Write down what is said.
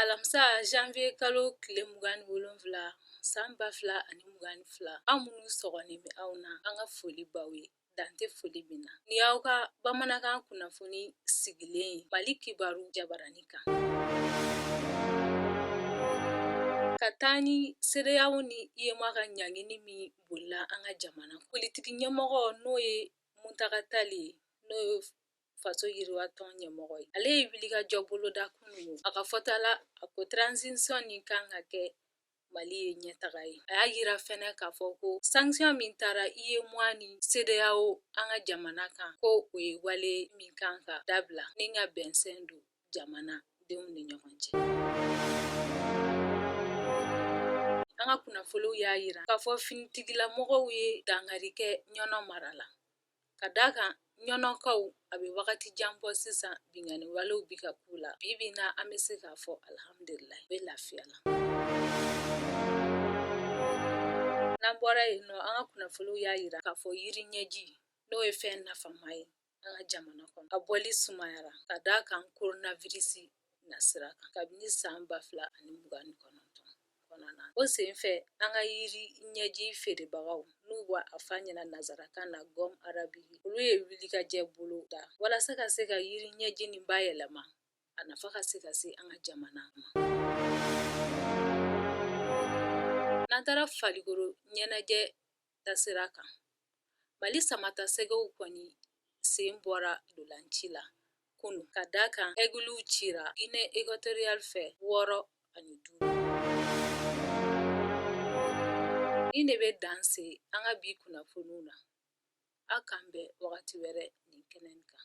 alamisa janvier kalo tile mugan ni wolonwula san ba fila ani mugan ni fila an minnu sɔgɔlen bɛ aw na an ka foli b'aw ye dan tɛ foli min na nin y'aw ka bamanankan kunnafoni sigilen ye mali kibaru jabarani kan ka taa ni cedeao ni uemoa ka ɲangini min bolila an ka jamana politiki ɲɛmɔgɔ n'o ye muntaka tali n'o ye faso yiriwatɔn ɲɛmɔgɔ ye ale ye wulikajɔ boloda kunun a ka fɔta la a ko transition nin kan ka kɛ mali ye ɲɛtaga ye a y'a yira fɛnɛ k'a fɔ ko sanction min tara uemoa ni cedeao an ka jamana kan ko o ye wale min kan ka dabila ni ka bɛnsɛn don jamana denw ni ɲɔgɔn cɛ an ka kunnafoniw y'a yira k'a fɔ finitigilamɔgɔw ye dangari kɛ ɲɔnɔ mara la ka d'a kan ɲɔnɔkaw a bɛ wagati jan bɔ sisan binkanni walew bɛ ka k'u la bi bi in na an bɛ se k'a fɔ alhamdulilayi u bɛ lafiya la n'an bɔra yen nɔ an ka kunnafoniw y'a yira k'a fɔ yiri ɲɛji n'o ye fɛn nafama ye an ka jamana kɔnɔ a bɔli sumayara ka d'a kan koronavirisi nasira kan kabini san ba fila ani mugan ni kɔnɔntɔn kɔnɔna na o senfɛ an ka yiri ɲɛji feerebagaw n'u b'a fɔ a ɲɛ na nazarakan na gomme arabique olu ye wulikajɔ boloda walasa ka se ka yiri ɲɛji nin bayɛlɛma a nafa ka se ka se an ka jamana ma n'an taara falikoro ɲɛnajɛ tasira kan mali samatasɛgɛw kɔni sen bɔra ntolanci la kunun ka da kan egluw cira guinée équatoriale fɛ wɔɔrɔ ani duuru nin ne bɛ dan se an ka bi kunnafoniw na aw k'an bɛn wagati wɛrɛ nin kɛnɛ kan